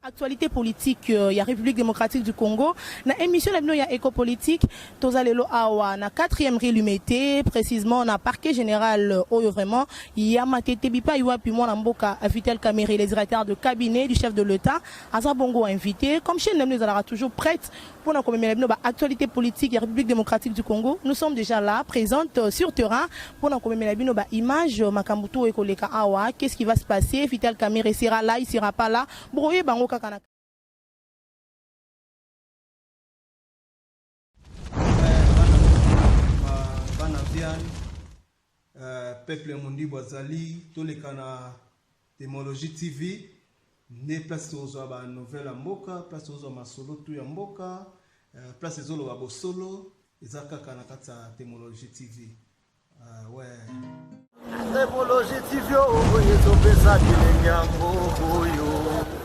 Actualite politique ya Republique Democratique du Congo na emission na bino ya Eco Politique toza lelo awa na 4e rue Limete précisément na parquet général oyo vraiment ya Matete bipai wapi mwana mboka Vital Kamerhe le directeur de cabinet du chef de l'État aza bongo invité comme chaîne na bino ezalaka toujours prête Pour na komemela bino ba actualités politiques ya République démocratique du Congo, nous sommes déjà là, présentes euh, sur terrain pour na komemela bino ba images euh, makambo tout ekoleka awa, qu'est-ce qui va se passer, Vital Kamerhe sera là, il sera pas là. Bokoye bango kaka na Euh, peuple ya mondibu azali toleka na demologie tv nde place tozwa ba nouvelle ya mboka place tozwa masolo tu ya mboka euh, place ezoloba bosolo eza kaka na kati ya demologie tv uh, we demologie tv oyo ezopesa bilenge yango oyo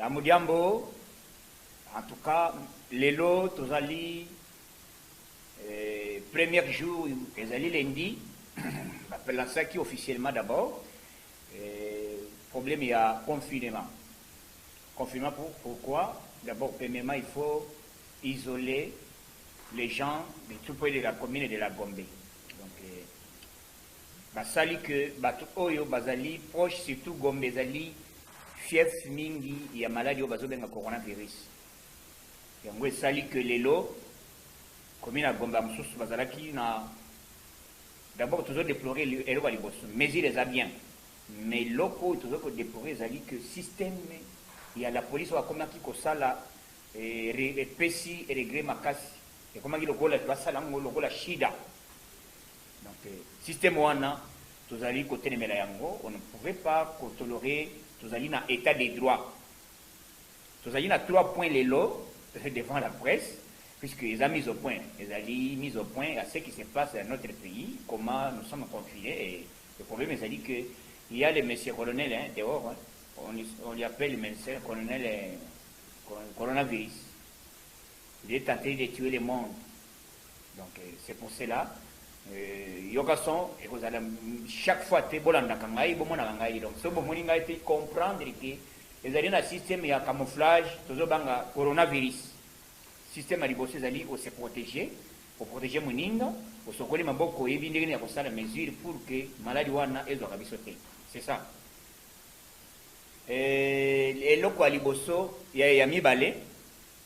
Amudiambo, en tout cas, lelo tozali eh, premier jour ezali lundi bapelansaki officiellement d'abord eh, problème ya confinement confinement pour, pourquoi d'abord premièrement il faut isoler les gens de tout près de la commune de la Gombe Basali que batu oyo bazali proche surtout Gombe ezali fief mingi ya maladi oyo bazobenga coronavirus. Yango esali que lelo commune ya Gombe ba mosusu bazalaki na d'abord tozo deplorer eloko ya liboso mesure eza bien mais eloko oyo tozo ko deplorer ezali que systeme ya la police oyo akomaki kosala epesi regret makasi ekomaki lokola basala yango lokola shida. Donc système wana tozali kotelemela yango, on ne pouvait pas ko tolerer, tozali na etat de droit. Tozali na trois points lelo devant la presse, puisque eza mise au point, ezali mise au point ya ce qui se passe dans notre pays, comment nous sommes confinés et le problème ezali que il y a le monsieur colonel hein, dehors hein, on, lui- on lui appelle monsieur colonel euh, cor- coronavirus. Il est tenté de tuer le monde. Donc c'est pour cela euh, yoka son ekozala chaque fois te bolandaka ngai bomonaka ngai donc soki bomoni ngai te comprendre ke ezali na système ya camouflage tozobanga coronavirus système ya liboso ezali ose protege oprotege moninga osokoli maboko oyebi ndenge nini ya kosala mesure pour ke maladi wana ezwaka biso te c'est ça euh, eloko ya liboso ya, ya mibale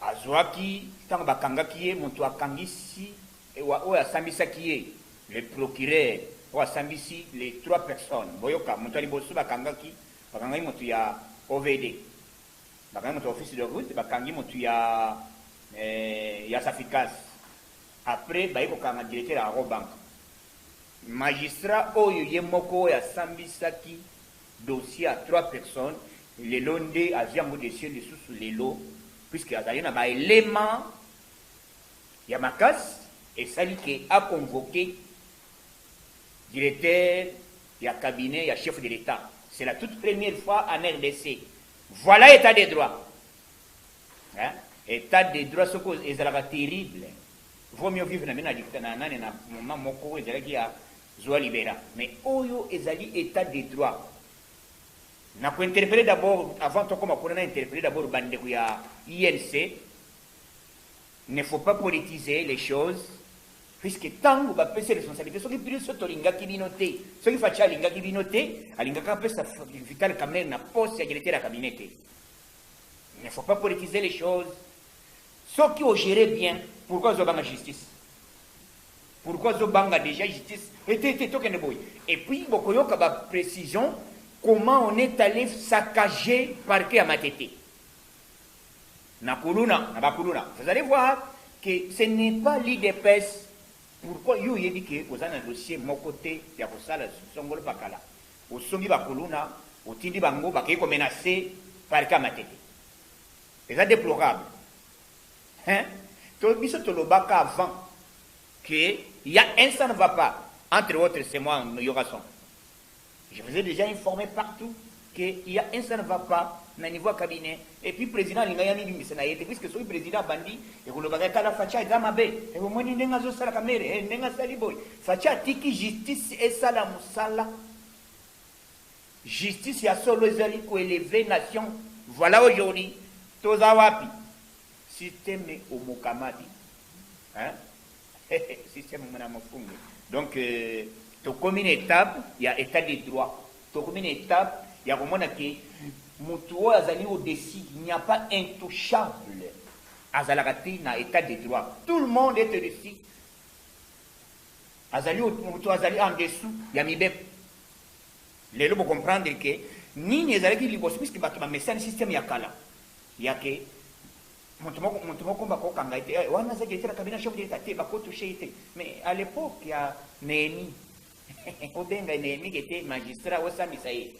Azuaki tango bakangaki ye mutu akangisi ewa oyo asambisaki ye le procureur oyo asambisi les trois personnes boyoka mutu ya liboso bakangaki bakangaki mutu ya OVD bakangi mutu ya office de route bakangi mutu ya ya saficas après baye kokanga directeur ya Arobank magistrat oyo ye moko oyo asambisaki dossier ya trois personnes lelo nde azui yango dossier lisusu lelo puisque azali na ba elements ya makasi esali que a convoquer directeur ya cabinet ya chef de l'etat c'est la toute première fois en rdc voilà etat de droit hein? etat de droit soko ezalaka terrible vaut mieux vivre na bino na nani na moment moko ezalaki ya Zua libera mais oyo ezali etat de droit na ko interpelle d'abord avant tokoma kuna na interpelle d'abord ba ndeko ya UNC ne faut pas politiser les choses puisque tango ba pesi responsabilite soki biso tolingaki bino te soki Fatshi alingaki bino te alingaka apesa Vital Kamerhe na poste ya directeur ya cabinet te ne faut pas politiser les choses soki ogere bien pourquoi ozobanga justice Pourquoi azo banga dejà justice et te te tokende boye et puis bokoyoka ba precisions comment on est allez saccager parquet ya matete na kuluna na ba kuluna vous allez voir que ce n'est pas l'idps pourquoi yo oyebi que oza na dossier moko te ya kosala songolo pakala osombi ba kuluna otindi bango bakei ko menacer parquet ya matete eza deplorable Hein to biso tolobaka avant que ya un ça ne va pas entre autres c'est moi Yorason je vous ai dejà informe partout que ya un ça ne va pas na niveau ya cabinet et puis president alinga ya mibimisa na ye te puisque soki president abandi ekolobaka kala facha eza mabe ebomoni ndenge azosala kamere eh, ndenge asali boye facha atiki justice esala mosala Justice ya solo ezali ko elever nation voila aujourd'hui toza wapi systeme omokamadi hein systeme mona mofunge donc tokomi na etape ya etat de droit tokomi na etape ya komona ke mutu oyo azali au dessus il n'y a pas intouchable azalaka te na etat de droit tout le monde est dessus azali mutu azali en dessous ya mibeko Lelo bo comprendre que nini ezalaki liboso puisque batu ba mesani système ya kala ya ke moto moko moto moko ba ko kanga ete eh, wana aza directeur ya cabinet chef d'etat te ba ko toucher ete mais à l'époque ya Nehemi obenga Nehemi ke te magistrat osambisa ye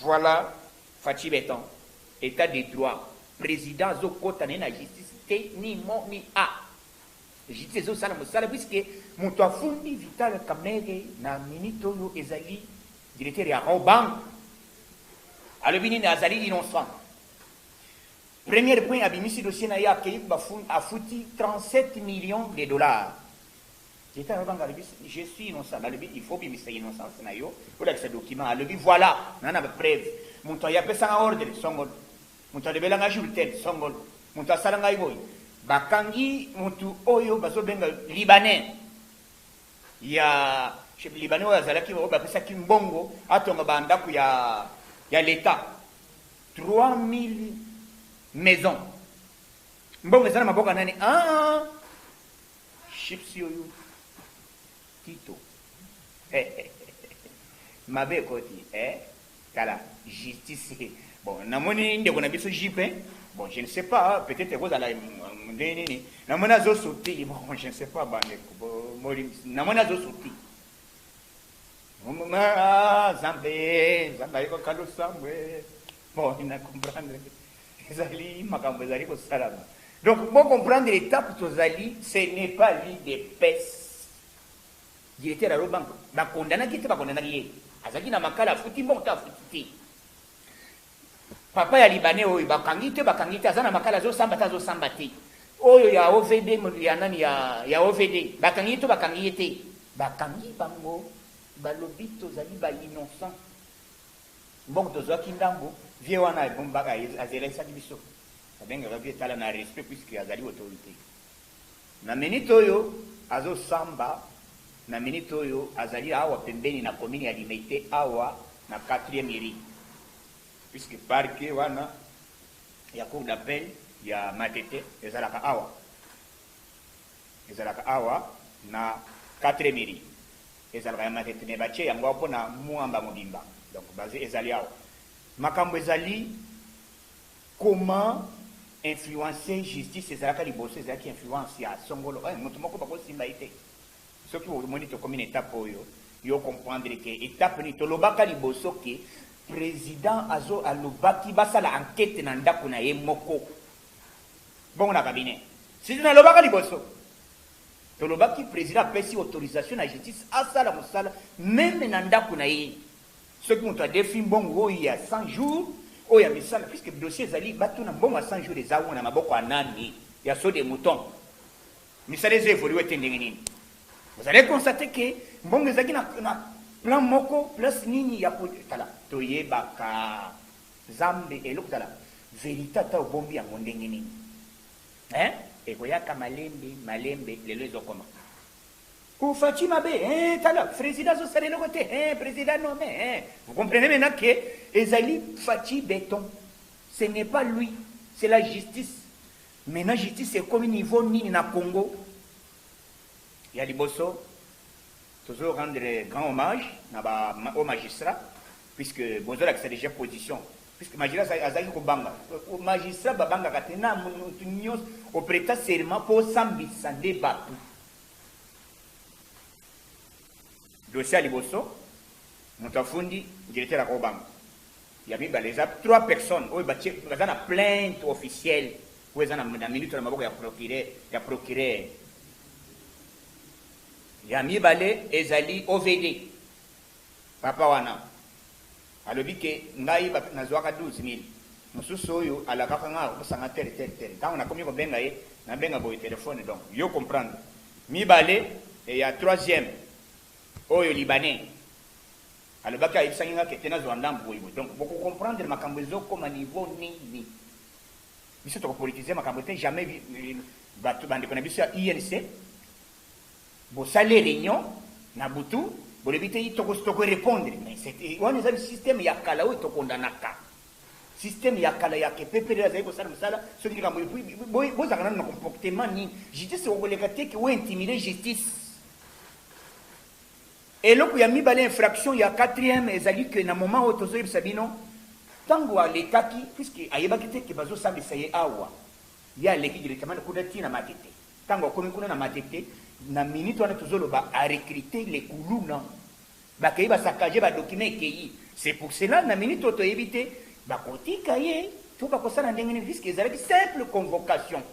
voilà Fatshi Beton état de droit président azokota na ye na justice te ni mo ni a Justice ezo sala musala puisque mutu afundi Vital Kamerhe na minute oyo ezali directeur ya Raw Bank alobi nini azali innocent. Premier point abimisi dossier na ye akeyi afuti 37 millions de dollars. Directeur ya Raw Bank alobi je suis innocent balobi il faut obimisa innocence na yo olakisa document alobi voilà na na ba preuve mutu aye apesanga ordre songo Mutu alobela nga jour tel songolo mutu asala ngai boye bakangi mutu oyo bazo benga libanais ya libanais oyo azalaki oyo bapesaki mbongo atonga ba ndaku ya ya l'etat 3000 maison mbongo eza na maboka nani ah chips oyo tito mabe ekoti eh Tala justice hee bon na moni ndeko na biso JP bon je ne sais pas peut etre eko zala ndenge nini na moni azo sotti bon je ne sais pas ba ndeko bo bolimbisa na moni azo sotti Ah, zambe zambe ayeba kalo sambwe bon na comprendre ezali makambo ezali kosalama donc bo comprendre etape tozali ce n'est pas l'idps Directeur ya Robank ba condamnaki ye te ba condamnaki ye azalaki na makala afuti mbongo to afuti te? Papa ya libanais oyo bakangi te bakangi te aza na makala azo samba te azo samba te? Oyo ya OVD ya nani ya ya OVD bakangi ye to bakangi ye te? Bakangi bango balobi tozali ba innocent mbongo tozwaki ndambu vieux wana abombaka azelaisaki biso babengaka vieux tala na respect puisque azali autorite. Na minute oyo azo samba, na minute oyo azali awa pembeni na commune ya Limete awa na quatrieme rue puisque parquet wana ya cour d'appel ya Matete ezalaka awa, ezalaka awa na quatrieme rue, ezalaka ya Matete mais batie yango awa pona Muamba mobimba donc base ezali awa. Makambo ezali. Comment influencer justice ezalaka liboso ezalaki influence ya songolo eh mutu moko bako simba ye te soki omoni tokomi na etape oyo yo o comprendre ke etape nini tolobaka liboso ke president azo alobaki basala enquete na ndaku na ye moko bongo na cabinet sisi nalobaka liboso tolobaki president apesi autorisation na justice asala mosala meme na ndaku na ye Soki mutu adefi mbongo oyo ya 100 jours oyo ya misala puisque dossier ezali batuna mbongo ya 100 jours eza awa na maboko ya nani? Ya saut de mouton? Misala ezo evoluer te ndenge nini? Vous allez constater que mbongo ezalaki na, na plan moko place nini ya ko tala toyebaka zambe eloko tala verite ata obombi yango ndenge nini hein? Ekoyaka malembe malembe lelo ezokoma. Ooh Fatshi mabe eeh tala Frezida azo sala eloko te eeh Prezida nomme eeh vous comprenez maintenant que ezali Fatshi beton ce n'est pas lui c'est la justice maintenant justice ekomi niveau nini na Congo ya liboso tozo rendre grand hommage na ba au magistrat puisque bozo lakisa déjà position puisque magistrat azalaki kobanga magistrat babangaka te na mutu nyonso opreta serment po osambisa nde batu Dossier ya liboso, mutu afundi directeur ya Kobangu. Ya mibale, eza trois personnes oyo batie baza na plainte officielle oyo eza na na minute na maboko ya procureur ya procureur. Ya mibale ezali OVD. Papa wana alobi ke ngai ba nazuaka 12000 mususu oyo alakaka nga akopusa nga tel tel tel tango nakomi kobenga ye nabenga boye telephone donc yo comprendre mibale et ya troisième oyo libanais alobaki ayebisaki nga ke te nazua ndambu boye boye donc boko comprendre makambo ezo koma niveau nini biso toko politiser makambo te jamais batu ba ndeko na biso ya UNC Bosali reunion na butu bolobi te toko toko repondre mais c'est wana eza système ya kala oyo to condamnaka système ya kala ya ke pepele azali kosala mosala soki likambo epuis bozalaka nanu na comportement nini justice ekokoleka te ke o intimide justice eloko ya mibale infraction ya quatrième ezali ke na moment oyo tozoyebisa bino ntango alekaki puisque ayebaki te ke bazosambisa ye awa ye aleki directement kuna ntina matete Tango akomi kuna na Matete, na minute wana tozo loba a recruter les kuluna. Ba keyi ba saccager ba documents ekeyi. C'est pour cela na minute oyo toyebi te ba kotika ye to ba kosala ndenge nini puisque ezalaki simple convocation.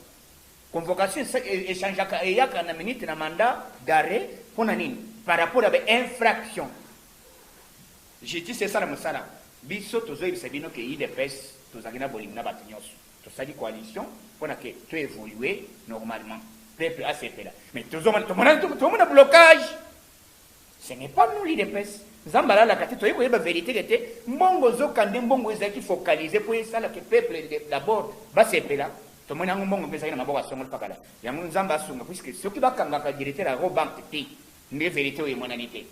Convocation e changeaka eyaka na minute na mandat d'arret pona nini? Par rapport ya ba infractions. Justice esala mosala. Biso tozo yebisa bino ke udps tozalaki na bolingo na batu nionso. Tosali coalition pona que to evoluer normalement. Peuple asepela. Mais tozomona tomona tomona blocage. Ce n'est pas nous l'IDPS. Nzambe alalaka te toyei koyeba verite ke te mbongo ozoka nde mbongo ezalaki focalise mpo esala ke peuple d'abord basepela tomoni yango mbongo mpe ezalaki na maboko asongoli pakala yango nzambe asunga puiske soki bakangaka directeur ya robank te nde verite oyo emonani te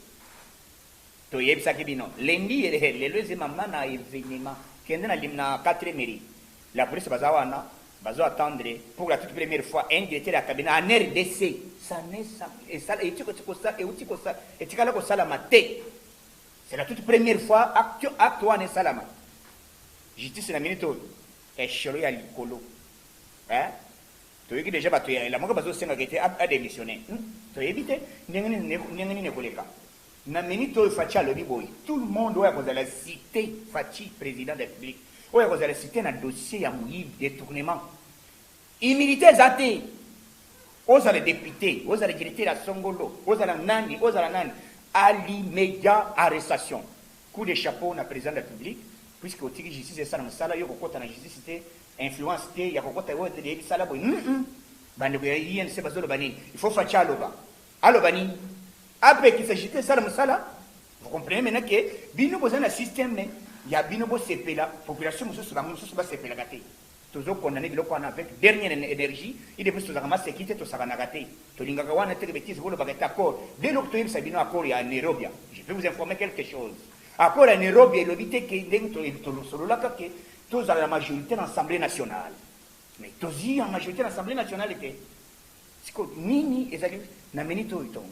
Toyebisaki bino lundi yy he lelo eze mama na evenement kende na limna quatre meri la police baza wana bazo attendre pour la toute première fois un directeur ya cabinet en rdc ça ne esala etiko kosala euti kosala etikala kosalama te c'est la toute première fois acte acte wana esalama justice na minute oyo esholo ya likolo eh Toyoki dejà batu ya Lamuka bazo senga ke te a demissionne. Hum toyebi te ndenge nini ndenge nini ekoleka. Na minute oyo Fatshi alobi boye tout le monde oyo akozala cite Fatshi president de la Republique oyo akozala cite na dossier ya moyibi, detournement, humilite eza te. Ozala depute, ozala directeur ya songolo, ozala nani, ozala nani, a l'immedia arrestation. Coup de chapeau na president de la Republique puisque otiki justice esala musala yo okokota na justice te. Influence te ya kokota oyo te deyebi sala boye humm bandeko ya UNC bazoloba nini il faut Fatshi aloba aloba nini apekisa JT esala musala vous comprenez maintenant que bino boza na système ya bino bosepela population mosusu bango mosusu basepelaka te tozo condamner biloko wana avec dernière énergie ide biso tozaka maseki te tosakanaka te tolingaka wana te betize bolobaka ete accord de loko toyebisa bino accord ya Nairobi je vais vous informer quelque chose accord ya Nairobi elobi te ke ndenge tolosololaka ke Tozala na majorite na assemblee nationale mais tozi ya majorite na assemblee nationale te siko nini ezali na minute oyo tongo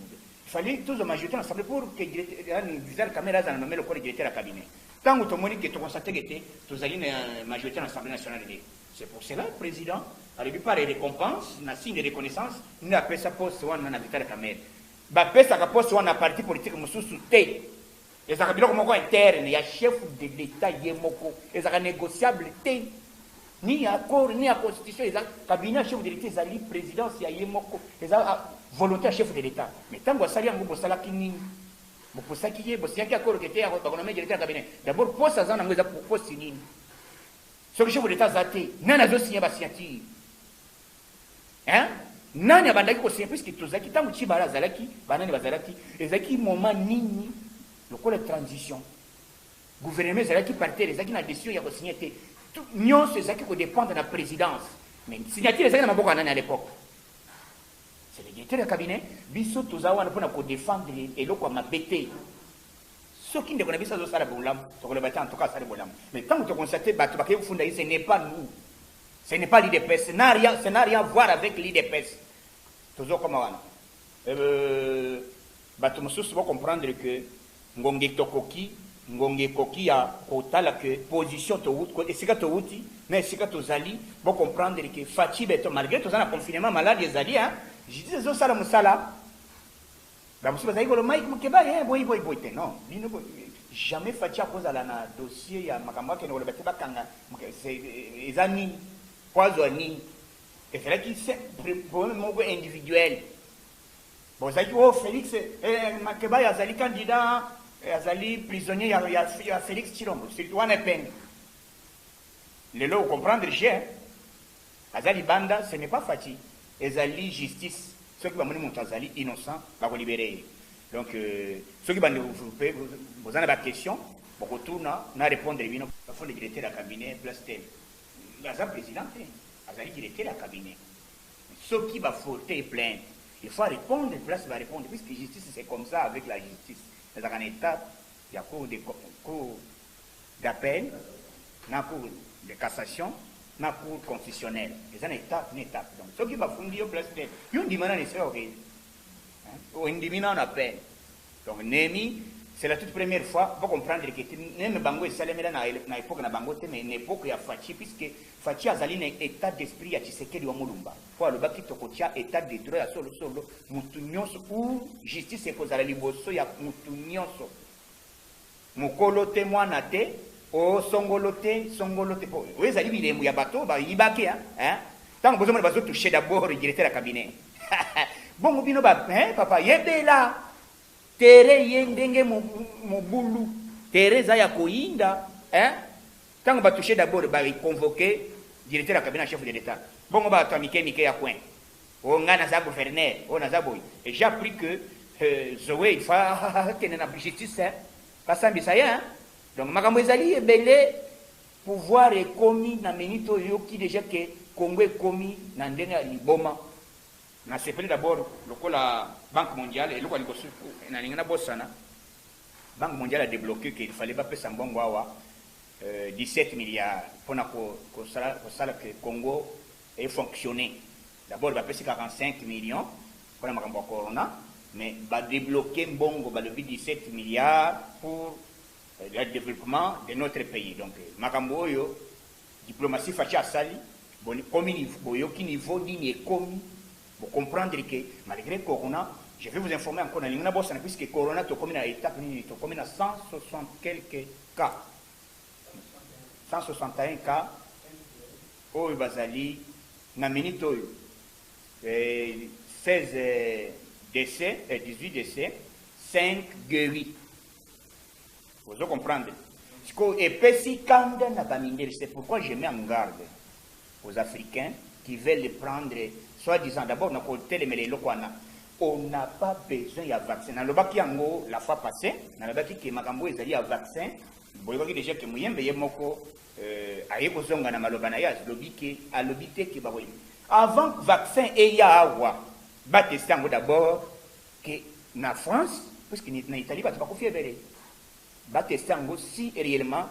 fallait tozwa majorité na assemblée pour que yani Vital Kamerhe azala nommé lokola directeur ya cabinet ntango tomoni ke tokonstateke te tozali na euh, majorité na assemblée nationale te c'est pour cela président alobi par récompense na signe de reconnaissance nde apesa poste wana na Vital Kamerhe bapesaka poste wana na parti politique mosusu te Ezalaka biloko moko interne ya chef de l'etat ye moko, ezalaka negociable te, ni ya accord ni ya constitution. Eza cabinet ya chef de l'etat ezali presidence ya ye moko, eza volonte ya chef de l'etat. Mais tango asali yango bosalaki nini? Bopusaki ye, bosignaki accord que te ako bako nommer directeur ya cabinet. D'abord poste aza nango eza poste nini? Soki chef de l'etat aza te, nani azo signer ba signature? Hein? Nani abandaki ko signer puisque tozalaki tango Tshibala azalaki, banani bazalaki, ezalaki moment nini lokola transition. Gouvernement ezalaki par terre, ezalaki na decision ya ko signer te. Nyonso ezalaki ko dependre na presidence. Mais signature ezalaki na maboko ya nani à l'époque? C'est le directeur ya cabinet. Biso toza wana pona ko defendre eloko ya mabe te. Soki ndeko na biso azosala bolamu, tokoloba te en tout cas asali bolamu. Mais tango tokonstate bato bakei kofunda ye, ce n'est pas nous. Ce n'est pas l'udps, ce n'a rien, ce n'a rien à voir avec l'udps. Tozo koma wana. Euh, batu mususu bo comprendre que ngonge tokoki, ngonge koki ya kotala que position to wuti, esika to wuti, na esika tozali, bo comprendre que Fatshi beton, malgré toza na confinement, malade ezali, hein, je dis ezo sala musala, Ba mosusu bazali koloba Mike Mukebayi eh boye boye boye te non bino bo jamais Fatshi akozala na dossier ya makambo akende koloba te bakanga eza nini po azwa nini ezalaki problème moko individuel bozalaki oh Felix eh, Mukebayi azali candidat eh, azali prisonnier ya, ya, ya Felix Tshilombo surtout wana epenge lelo okomprendre je Aza libanda ce n'est pas Fatshi ezali justice soki bamoni mutu azali innocent bako libere ye donc soki ba ndeko pe boza na ba question boko tuna na repondre bino. Afande directeur ya cabinet place te aza president te azali directeur ya cabinet soki ba forter plainte il faut a repondre place ba repondre puisque justice c'est comme ça avec la justice ezalaka na etat ya cour de cour d'appel na cour de cassation na cour constitutionnelle eza na étape na étape donc soki bafundi yo place te yo ndima nani soki okeyi ondimi nano appel donc nemi c'est la toute première fois bo comprendre que neme bango esalemela na, na époque na bango te mais na époque ya Fatshi puisque Fatshi azali na état d'esprit ya Tshisekedi wa Mulumba po alobaki tokotia état de droit ya solo solo mutu nyonso ou justice ekozala liboso ya mutu nyonso Mokolo te, mwana te, oh, songolo te, songolo te, po oyo ezali bilembo ya bato oyo bayibaki, hein, tango bozomona bazo toucher d'abord directeur ya cabinet bongo bino ba, hein, papa yebela terrain ye ndenge mobulu, terrain eza ya koyinda, hein, tango ba toucher d'abord ba convoquer directeur ya cabinet ya chef de l'Etat, bongo bato ya mike mike ya coin Oh nga naza gouverneur, oh naza boye. Et j'ai appris que euh, Zoé il faut akende na justice hein. Basambisa ye hein. Donc makambo ezali ebele pouvoir ekomi na minute oyo yoki deja ke Congo ekomi na ndenge ya liboma. Nasepeli d'abord lokola Banque mondiale eloko ya liboso nalingi nabosana Banque mondiale a débloqué qu'il fallait bapesa mbongo awa euh, 17 milliards mpona kosala ko, ko, ko, ko, que Congo e fonctionner d'abord bapesi 45 millions pona makambo ya corona mais ba debloquer mbongo balobi 17 milliards pour le developpement de notre pays donc makambo oyo diplomatie Fatshi asali bokomi boyoki niveau nini ekomi bo comprendre que malgre corona je vais vous informer encore nalingi nabosana puisque corona tokomi na etape nini tokomi na 160 quelques cas 161 cas oyo bazali na minute oyo, 16 decès, 18 decès, 5 gueris. Ozo comprendre? Siko epesi kanda na bamindele, c'est pourquoi je mets en garde aux Africains qui veulent prendre soi-disant d'abord na kotelemela eloko wana on n'a pas besoin ya vaccin nalobaki yango la fois passée nalobaki ke makambo ezali ya vaccin Boyebaki deja ke muyembe ye moko euh, aye kozonga na maloba na ye azlobi ke alobi te ke bako avant vaccin eya awa bateste yango d'abord ke na France puisque na Italie bato bakufi ebele bateste yango si reellement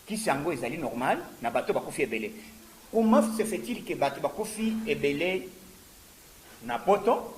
kisi yango ezali normal na bato bakufi ebele comment se fait-il ke bato bakufi ebele na poto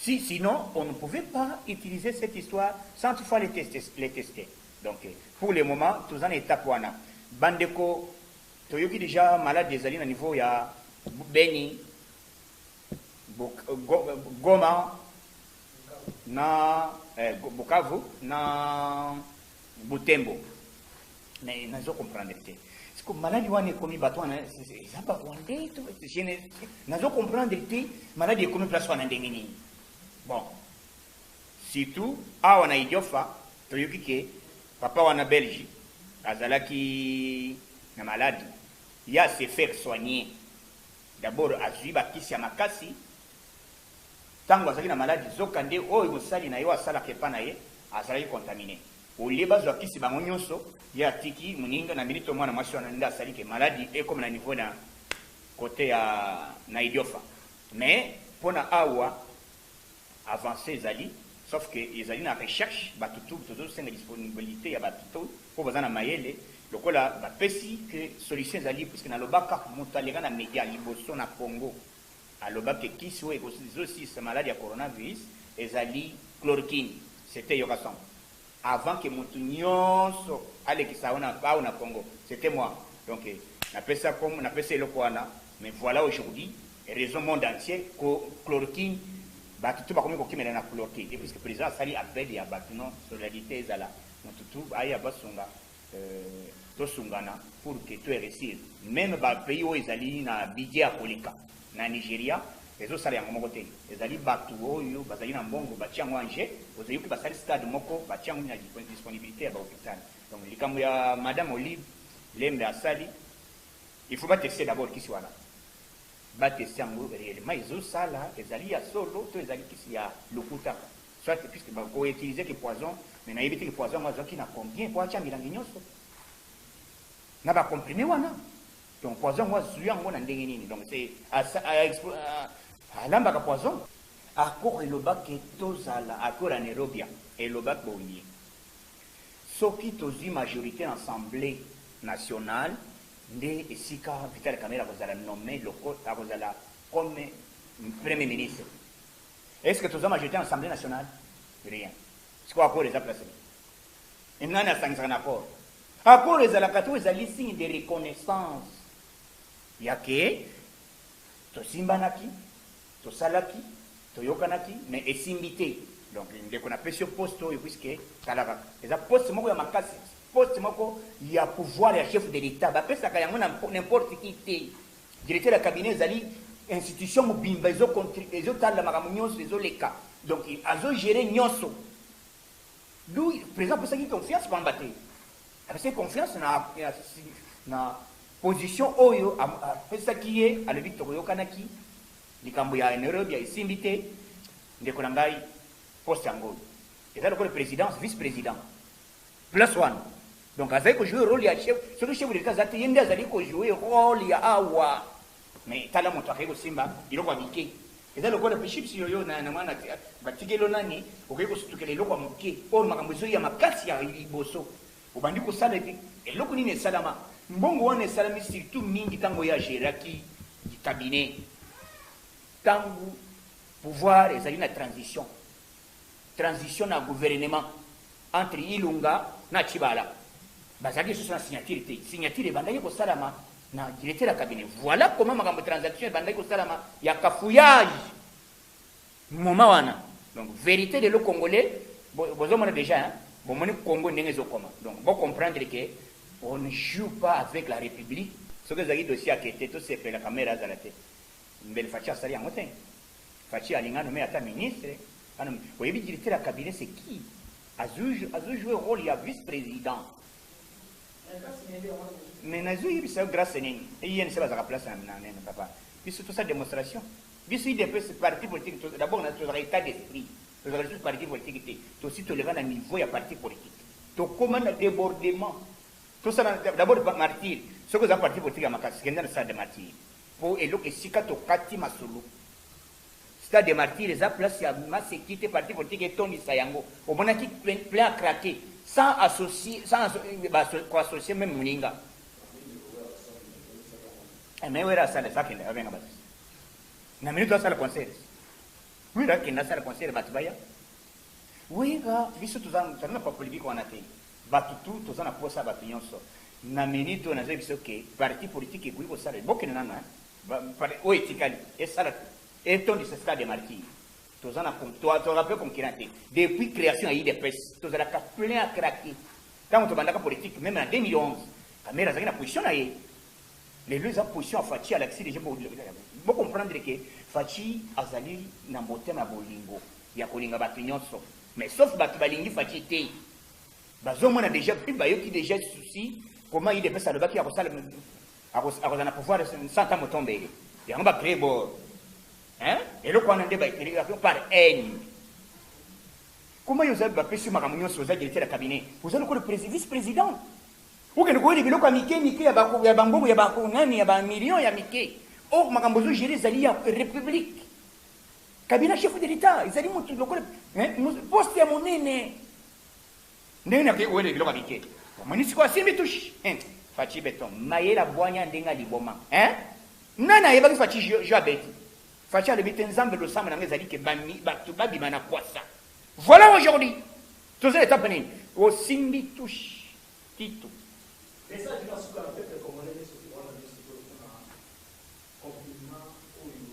Si sinon on ne pouvait pas utiliser cette histoire sans qu'il faut aller les tester donc pour le moment toza na etape wana ba ndeko toyoki dejà malade ezali na niveau ya Beni Goma na eh, Bukavu na Butembo Mais nazo comprendre te. Siko maladi wana ekomi bato wana eza ba Rwandais to je ne nazo comprendre te maladi ekomi place wana ndenge nini. Bon. Surtout awa na Idiofa toyoki ke papa wana Belge azalaki na maladi ya se faire soigner. D'abord azwi bakisi ya makasi ntango azalaki na maladi, zoka nde oyo mosali na yo asalaka epa na ye azalaki contamine. Au lieu bazwa kisi bango nionso, ye atiki muninga na minute oyo mwana mwasi wana nde asali que maladi ekoma na niveau na cote ya na Idiofa. Mais pona awa avance ezali sauf que ezali na recherche batu tout tozo senga disponibilite ya batu tout oyo baza na mayele lokola bapesi que solution ezali puisque nalobaka mutu aleka na media liboso na Congo. Aloba que kisi oyo ezosilisa maladi ya coronavirus ezali chloroquine. C'etait Yoka Sambo. Avant que mutu nionso alekisa yango na awa na Congo, c'etait moi. Donc, napesa kombo, napesa eloko wana, mais voila aujourd'hui, raison monde entier, ko chloroquine, batu tout bakomi kokimela na chloroquine. Et puisque President asali appel ya batu non solidarite ezala, mutu tout aya basunga. To sungana pour que to reussir meme ba pays oyo ezali na budget ya koleka na Nigeria ezo sala yango moko te ezali batu oyo bazali na mbongo batie yango en jeu ozo yoki basali stade moko batie yango na disponibilite ya ba hopital donc likambo ya madame Olive lembe asali il faut ba tester d'abord kisi wana ba tester yango reellement ezo sala ezali ya solo to ezali kisi ya lokuta. Soit puisque ba ko utiliser ki poison mais nayebi te ki poison yango azwaki na combien po atia milangi nionso na ba comprime wana donc poison yango azwi yango na ndenge nini donc alambaka poison accord elobaki tozala accord ya nairobia elobaki boye soki tozwi majorité na assemblée nationale nde esika vital kamere akozala nomme loko akozala comme premier ministre Est ce que toza majorite na assemblee nationale? Rien. Sikoyo accord eza place nini? Et nani asangisaka na accord? Accord ezalaka te oyo ezali signe de reconnaissance ya ke tosimbanaki, tosalaki, toyokanaki mais esimbi te. Donc ndeko napesi yo poste oyo puisque tala kaka eza poste moko ya makasi, poste moko ya pouvoir ya chef de l'Etat bapesaka yango na n'importe qui te. Directeur ya cabinet ezali institution mobimba ezo contri ezo talela makambo nionso ezo leka donc azo gerer nionso d'où president apesaki confiance pamba te apesaki confiance na na position oyo apesaki ye alobi tokoyokanaki likambo ya Nairobi ya esimbi te ndeko na ngai poste yango eza lokola presidence vice president place wana donc azali ko jouer role ya chef soki chef de l'etat aza te ye nde azali ko jouer role ya awa mais tala moto akei kosimba eloko ya mike eza lokola mpe chips yoyo na mwana batikeli nani okei kosutukela eloko ya moke oyo makambo ezoya makasi ya liboso obandi kosala epi eloko nini esalama mbongo wana esalami surtout mingi ntango ye ageraki cabinet ntango pouvoir ezali na transition transition na gouvernement entre Ilunga na Tshibala bazalaki lisusu na signature te. Signature ebandaki kosalama na directeur ya cabinet. Voilà comment makambo transaction ebandaki kosalama ya cafouillage moment wana. Donc verite de le congolais bozomona déjà hein? bomoni Congo ndenge ezokoma. Donc bo comprendre que on ne joue pas avec la république. Soki ezalaki dossier akete tosepela kamera azala te. Mbele Fatshi asali yango te? Fatshi alinga a nomme ata ministre, a nomme, oyebi directeur ya cabinet c'est qui? Azo, azo jouer role ya vice president. Mais nazo yebisa yo grace nini? INC bazaka place na, na, na papa. Biso tosa demonstration. Biso IDPS parti politique, d'abord tozaka état d'esprit. Tozaka lisusu parti politique te. Tosi toleka na niveau ya parti politique. Tokoma na débordement. Tosala d'abord martyr. Soki oza parti politique ya makasi, kende na stade de martyr. Po eloko esika tokati masolo. Stade de martyrs eza place ya maseki te parti politique etondisa yango omonaki plein a craque sans associe sans ko associe meme muninga eh, mais wera asala eza kende abenga batu na minute asala concert wera kende asala concert batu baya wera biso tozana na politique wana te Batu tout toza na posa batu nionso na minute oyo nazoyebisa yo que parti politique ekoki kosala ye bokende nanu hein ba oyo etikali esala tout etondisa stade de martyrs toza na tozalaka pe concurrent te depuis creation ya udps tozalaka plein à craquer tango tobandaka politique meme na 2011 kamere azalaki na position na ye lelo eza position ya faci alakisi deja bocomprendre ke faci azali na motema ya bolingo ya kolinga bato nyonso mais sauf bato balingi faci te bazomona deja mpe bayoki deja souci comment idps alobaki akosala akozala na pouvoir santa motombele yango bacree bor eloko wana nde baetelikaki par haine koma yo ozali bapesi makambo nyonso oza directeur ya cabinet oza lokola vice président okende koyeli biloko ya mike mike ya bambongo ya banani ya bamillion ya mike or makambo ozogere ezali ya république Kabila chef de l'etat ezali mutu lokola eh, poste ya monene ndenge na ke wele biloko bike omoni siko asimbi touche eh, fachi beton mayela bwanya ndenge liboma eh? nani ayebaki fachi jo abeti fachi alobi te nzambe losambo nanga ezali ke bato babima na kwasa voilà aujourd'hui toza etape nini osimbi touche titu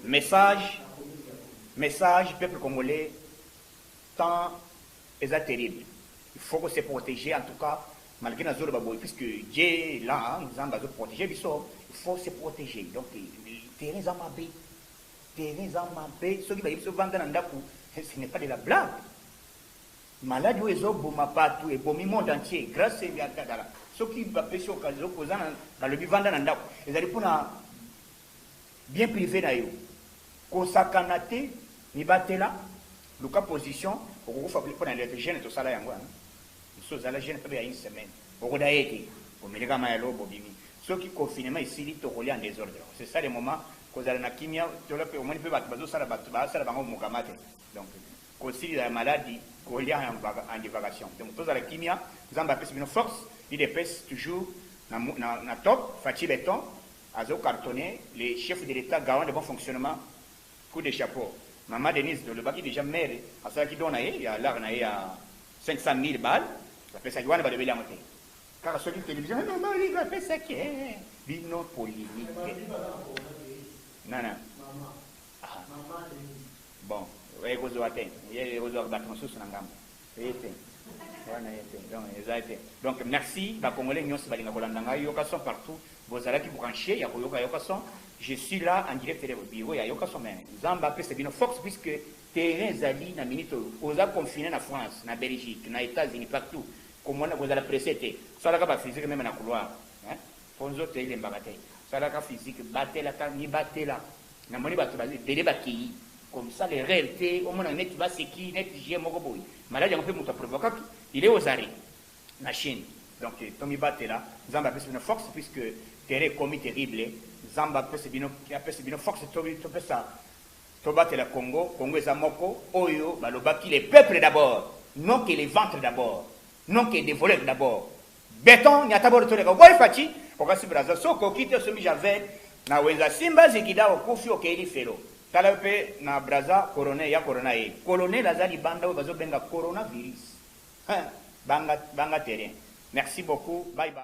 Message message peuple congolais temps eza terrible il faut ko se proteger en tout cas malgre nazo loba boye puisque Dieu est là nzambe azo proteger biso il faut se proteger donc terrain eza mabe terrain eza mabe soki bayebi biso vanda na ndaku ce n'est pas de la blague Maladi oyo ezo boma batu ebomi monde entier grace ya kadala soki ba pesi occasion oza na balobi vanda na ndaku ezali pona bien prive na yo kosakana te mibatela luka position okokufa pona lete jeune tosala yango wana mosusu ozala jeune pebe ya une semaine okoda ye te omeleka mai ya lobo bobimi soki confinement esili tokolia en desordre c'est ça le moment kozala na kimia tola pe omoni pe bato bazosala bato basala bango mokama te donc Kosilila ya maladi kolia yango ba en divagation donc tozala kimia nzambe apesi bino force udps toujours na na na top fatshi beton azo cartonne le chef de l'etat garant de bon fonctionnement coup de chapeau maman Denise tolobaki dejà mère asalaki don na ye ya lar na ye ya 500000 bal apesaki wana balobeli yango te kaka soki television eh maman olive apesaki eh bino polimique nana. Maman Denise. Bon ekozua te ye ekozua batu mosusu na ngambo ye te wana ye te donc eza te donc merci ba congolais nionso balinga kolanda ngai yoka son partout bozalaki branche ya koyoka yoka son je suis là en direct de bureau ya yoka son mais nzambe apesa bino fox puisque terrain ezali na minute oyo oza confine na france na belgique na etats unis partout komona kozala presse te salaka ba physique meme na couloir hein po nzoto elembaka te salaka physique batelaka mibatela Na moni batu baza ebele ba keyi comme ça le reel te omona neti ba seki neti jeu moko boye malade yango pe mutu a provokaki il est aux arret na chine donc to mi batela nzambe apesi bino force puisque terrain ekomi terrible nzambe apesi bino apesi bino force to to pesa to batela congo congo eza moko oyo ba lobaki les peuples d'abord non que les ventres d'abord non que des voleurs d'abord Beton nyata bolo toleka oboyi Fatshi okasi Brazza soki okoki te osombi javel na wenza simba zigida okufi okeyi lifelo tala yo pe na Brazza corone ya corona ye colonel aza libanda oyo bazo benga corona virus hein banga banga terrain merci beaucoup bye bye.